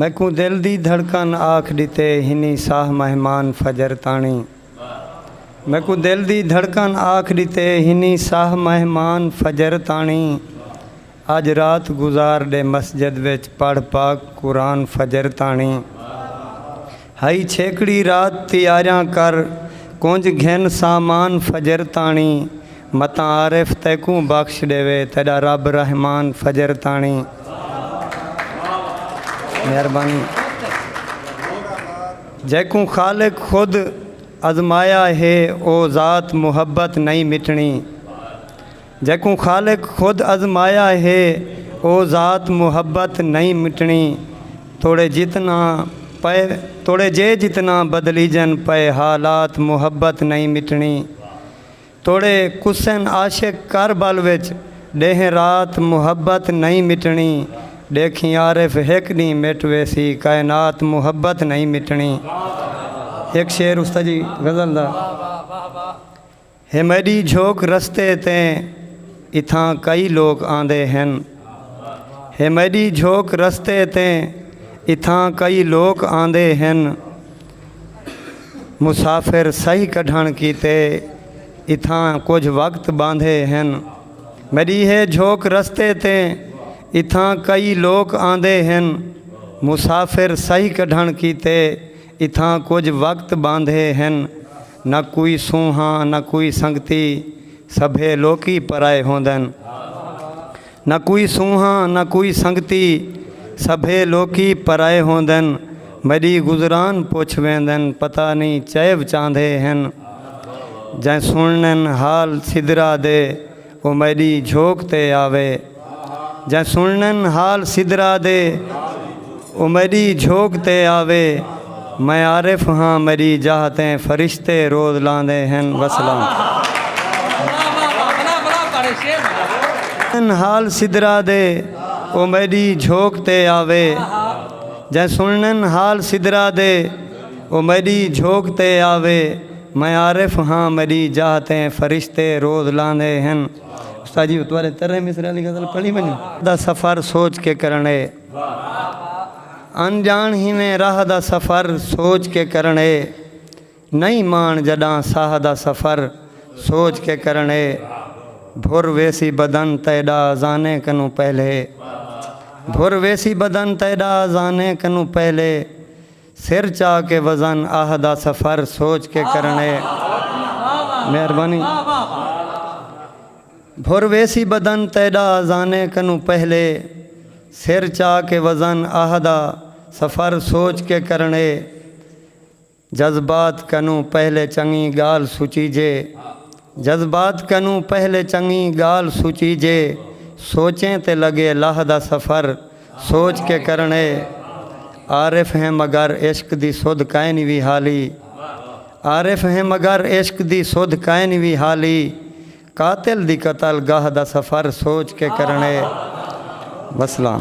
میکوں دل دی دھڑکن آکھ ڈتے ہنی ساہ مہمان فجر تاݨی میکوں دل دی دھڑکن آکھ ڈتے ہنی ساہ مہمان فجر تاݨی اج رات گزار ڈے مسجد وچ پڑھ پاک قرآن فجر تاݨی۔ ہئی چھیکڑی رات تیاریاں کر کونج گھن سامان فجر تاݨی متاں عارف تیکوں بخش ݙیوے تیݙا رب رحمان فجر تاݨی مہربانی جیکوں خالق خود ازمایا ہے او ذات محبت نئیں مٹݨی۔ جیکوں خالق خود ازمایا ہے او ذات محبت نئیں مٹݨی توڑے جتنا پئے توڑے جے جتنا بدلیجن پئے حالات محبت نئیں مٹݨی توڑے کسن عاشق کر بل وچ ݙینہہ رات محبت نئیں مٹݨی ݙیکھیں عارف ہک ݙینہہ مٹ ویسی کائنات محبت نئیں مٹݨی ہک شعر استاجی غزل دا۔ ہے میݙی جھوک رستے تے اتھاں کئی لوک آندے ہن ہے میݙی جھوک رستے تے اتھاں کئی لوک آندے ہن مسافر صحیح کڈھݨ کیتے اتھاں کجھ وقت ٻاندھے ہن میݙی ہے جھوک رستے تے اتھاں کئی لوک آندے ہن مسافر صحیح کڈھݨ کیتے اتھاں کجھ وقت ٻاندھے ہن نہ کوئی سونہاں نہ کوئی سنگتی سبھے لوکی پرائے ہوندن نہ کوئی سونہاں نہ کوئی سنگتی سبھے لوکی پرائے ہوندن میڈی گزران پچھ ویندن پتہ نی چئیو چاہندے ہن جئیں سنڑنن حال سدرا دے او میݙی جھوک تے آوے۔ جئیں سݨݨ حال سدرا دے۔ او میݙی جھوک تے آوے۔ میں عارف ہاں میݙی جاہ تیں فرشتے روز لاندے ہن وسلام۔ سݨݨ حال سدرا دے۔ او میݙی جھوک تے آوے۔ جئیں سݨݨ حال سدرا دے۔ او میݙی جھوک تے آوے۔ میں عارف ہاں میڈی جاہ تے فرشتے روز لاندے ہن۔ استاد جی تہاڈے ترے مصرعے آلی غزل پڑھی ونجوں۔ دا سفر سوچ کے کرݨ اے۔ انڄاݨ ہیویں راہ دا سفر سوچ کے کرݨ اے۔ نئیں ماݨ جݙاں ساہ دا سفر سوچ کے کرݨ اے۔ بھر ویسی بدن تیݙا اذانے کنوں پہلے۔ بھر ویسی بدن تیݙا اذانے کنوں پہلے۔ سر چا کے وزن آہ دا سفر سوچ کے کرݨے مہربانی بھر ویسی بدن تیݙا اذانے کنوں پہلے سر چا کے وزن آہ دا سفر سوچ کے کرݨے جذبات کنوں پہلے چنگی ڳالھ سچیجے جذبات کنوں پہلے چنگی گالھ سوچیجے سوچیں تے لگے لہہ دا سفر سوچ کے کرݨے عارف ہیں مگر عشق دی سدھ کائنی وی حالی عارف ہیں مگر عشق دی سدھ کائنی وی حالی قاتل دی قتل گاہ دا سفر سوچ کے کرݨے وسلام۔